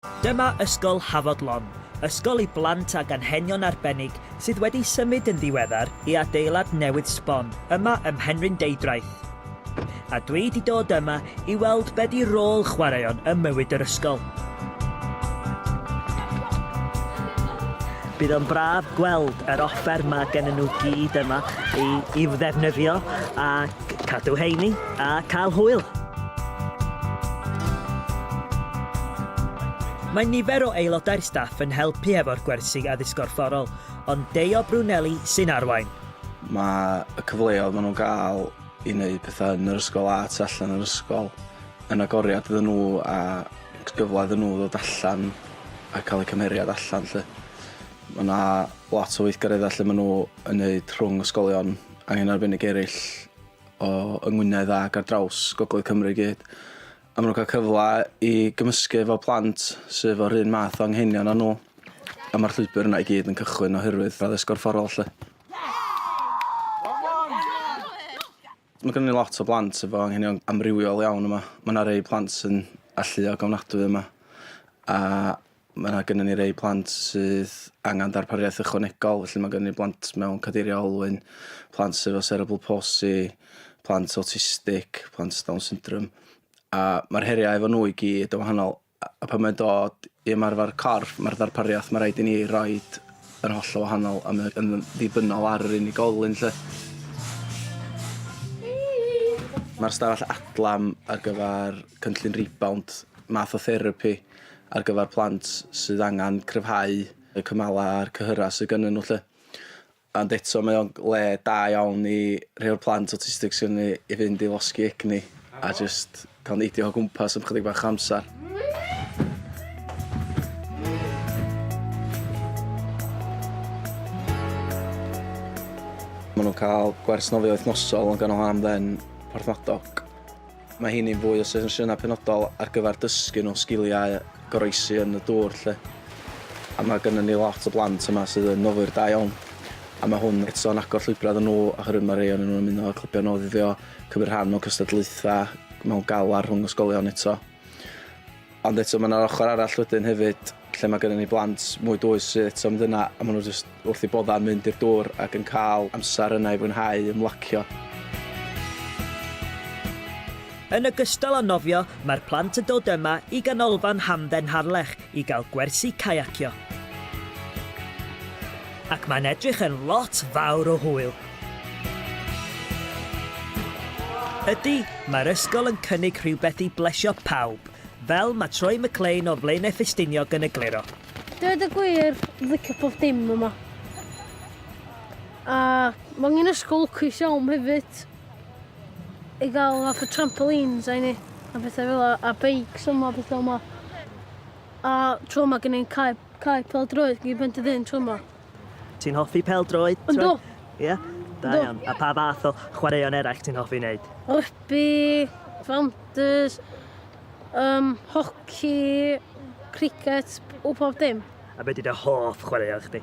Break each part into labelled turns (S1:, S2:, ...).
S1: Dyma Ysgol Hafod Long, ysgol i blant ag anghenion arbennig sydd wedi symud yn ddiweddar i adeilad newydd sbon yma ym Mhenrhyn Deudraeth. A dwi 'di dod yma i weld be 'di rôl chwaraeon ym mywyd yr ysgol. Bydd o'n braf gweld yr offer ma' gennyn nhw gyd yma i i'w ddefnyddio ac Cadw heini a cael hwyl! Mae nifer o aelodau'r staff yn helpu hefo'r gwersi addysg gorfforol, ond Deo Brunelli sy'n arwain. Mae
S2: y cyfleoedd maen nhw'n gael i wneud pethau yn yr ysgol a tu allan yr ysgol yn agoriad iddyn nhw a gyfle iddyn nhw ddod allan a cael eu cymheriad allan 'lly. Mae 'na lot o weithgareddau lle maen nhw yn wneud rhwng ysgolion Angen arbennig eraill o yng Ngwynedd ac ar draws Gogledd Cymru i gyd. A maen nhw'n cael cyfle i gymysgu efo plant sydd o'r un math o anghenion â nhw. A mae'r llwybr yna i gyd yn cychwyn oherwydd addysg gorfforol 'lly. Mae gennym ni lot o blant efo anghenion amrywiol iawn yma. Mae yna rei plant sy'n alluog ofnadwy yma a Mae 'na gynnon ni rei plant sydd angen darpariaeth ychwanegol, felly mae gynnon ni blant mewn cadeiriau olwyn, plant sydd efo cerebral palsy, plant autistic, plant sydd Down syndrome. A mae'r heriau efo nhw i gyd yn wahanol. A a pan mae'n dod i ymarfer corff, mae'r ddarpariaeth mae rhaid i ni roed yn hollol wahanol a mae yn ddibynnol ar yr unigolyn 'lly. Mae'r stafell adlam ar gyfer cynllun rebound math o therapi. ar gyfer plant sydd angen cryfhau y cymalau a'r cyhyrau sydd gynnyn nhw 'lly. Ond eto mae o'n le da iawn i rhei o'r plant awtistig sydd gynnon ni i fynd i losgi egni a jyst cael neidio o gwmpas am chydig bach o amser. Maen nhw'n cael gwers nofio wythnosol yn ganol Haf Dd'n Porthmadog. Mae hyn yn fwy o sesiynau penodol ar gyfer dysgu nhw sgiliau goroesi yn y dŵr 'lly. A mae gynnon ni lot o blant yma sydd yn nofwyr da iawn. A mae hwn eto yn agor llwybrau iddyn nhw oherwydd mae rhei ohonyn nhw'n ymuno â clybiau nofio, cymryd rhan mewn cystadlaethau mewn galar rhwng ysgolion eto. Ond eto mae yna'r ochr arall wedyn hefyd lle mae gennym ni blant mwy dwys sydd eto mynd yna a maen nhw jyst wrth i bodda'n mynd i'r dŵr ac yn cael amser yna i fwynhau ymlacio.
S1: Yn ogystal â nofio, mae'r plant yn dod yma i Ganolfan Hamdden Harlech i gael gwersi caiacio. Ac mae'n edrych yn lot fawr o hwyl! Ydy, mae'r ysgol yn cynnig rhywbeth i blesio pawb, fel mae Troy McLean o Flaenau Ffestiniog yn egluro. Dweud y gwir,
S3: dwi'n licio pob dim yma. A mae angen ysgol lwcus iawn hefyd i gael fath o trampolines a hynny, a bethau fel 'na, a beics yma, bethau yma. A tro 'ma gen i'n cae Cae pêl-droed gyda Bentyddyn tro yma. Ti'n hoffi
S1: pêl-droed? Yndw. Ie? Da iawn. A pa fath o chwaraeon eraill ti'n hoffi wneud? Rygbi,
S3: fawntys, um, hoci, cricet, o pob dim. A beth ydy dy hoff
S1: chwaraeon chdi?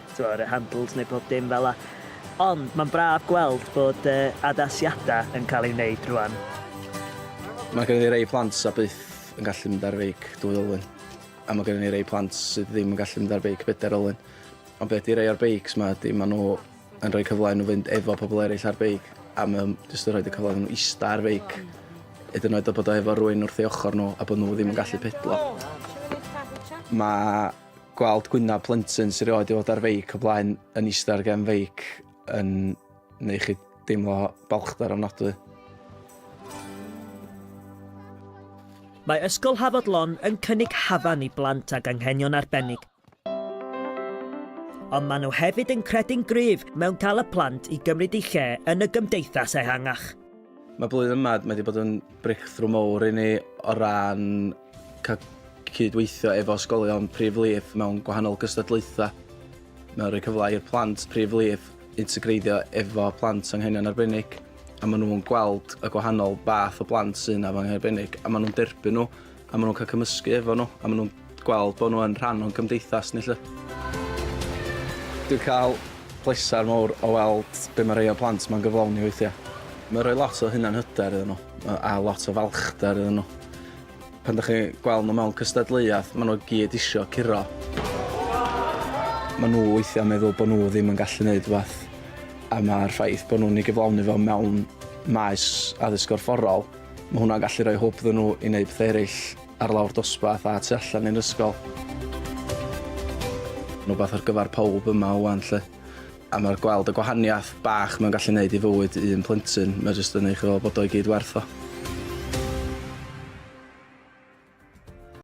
S1: Tibod, yr handles neu pob dim fel 'na. Ond mae'n braf gweld bod yy addasiadau yn cael eu wneud rwan.
S2: Mae gennym ni rai plant a byth yn gallu mynd ar feic dwy olwyn, a mae gennym ni rai plant sydd ddim yn gallu mynd ar feic bedair olwyn. Ond be ydy rei o'r beics ma ydy maen nhw yn rhoi cyfle i nhw fynd efo pobl eraill ar beic, a mae o'n jyst yn rhoi y cyfle iddyn nhw ista ar feic, hyd yn oed o bod o efo rwy'n wrth ei ochr nhw a bod nhw ddim yn gallu pedlo. Mae gweld gwynab plentyn sy'n rioed i fod ar feic o blaen yn eistedd ar gen feic yn neu chi deimlo balchdar ofnadwy.
S1: Mae Ysgol Hafod Lon yn cynnig hafan i blant ag anghenion arbennig. Ond maen nhw hefyd yn credu'n gryf mewn cael y plant i gymryd eu lle yn y gymdeithas ehangach. Mae blwyddyn
S2: yma, mae wedi bod yn breakthrough mowr i ni o ran Cael cydweithio efo ysgolion Prif Lif mewn gwahanol gystadlaethau. Mae'n rhoi cyfle i'r plant Prif Lif integreiddio efo plant anghenion arbennig a maen nhw'n gweld y gwahanol fath o blant sy'n efo anghenion arbennig a maen nhw'n derbyn nhw a maen nhw'n cael cymysgu efo nhw a maen nhw'n gweld bod nhw yn rhan o'n cymdeithas ni 'lly. Dwi'n cael pleser mawr o weld be mae rhai o'r plant ma'n gyflawni weithiau. Mae'n rhoi lot o hunanhyder iddyn nhw a lot o falchder iddyn nhw. Pan dych chi'n gweld nhw mewn cystadleuaeth, maen nhw gyd isio curo. Maen nhw weithiau'n meddwl bod nhw ddim yn gallu gwneud rhywbeth, a mae'r ffaith bod nhw'n ei gyflawni fo mewn maes addysg gorfforol, mae hwnna'n gallu rhoi hwb iddyn nhw i wneud pethau eraill ar lawr dosbarth a tu allan i'r ysgol. Rhywbeth ar gyfer pawb yma ŵan 'lly. A mae'r gweld y gwahaniaeth bach mae'n gallu neud i fywyd un plentyn, mae jyst yn neud chi feddwl bod o i gyd werth o.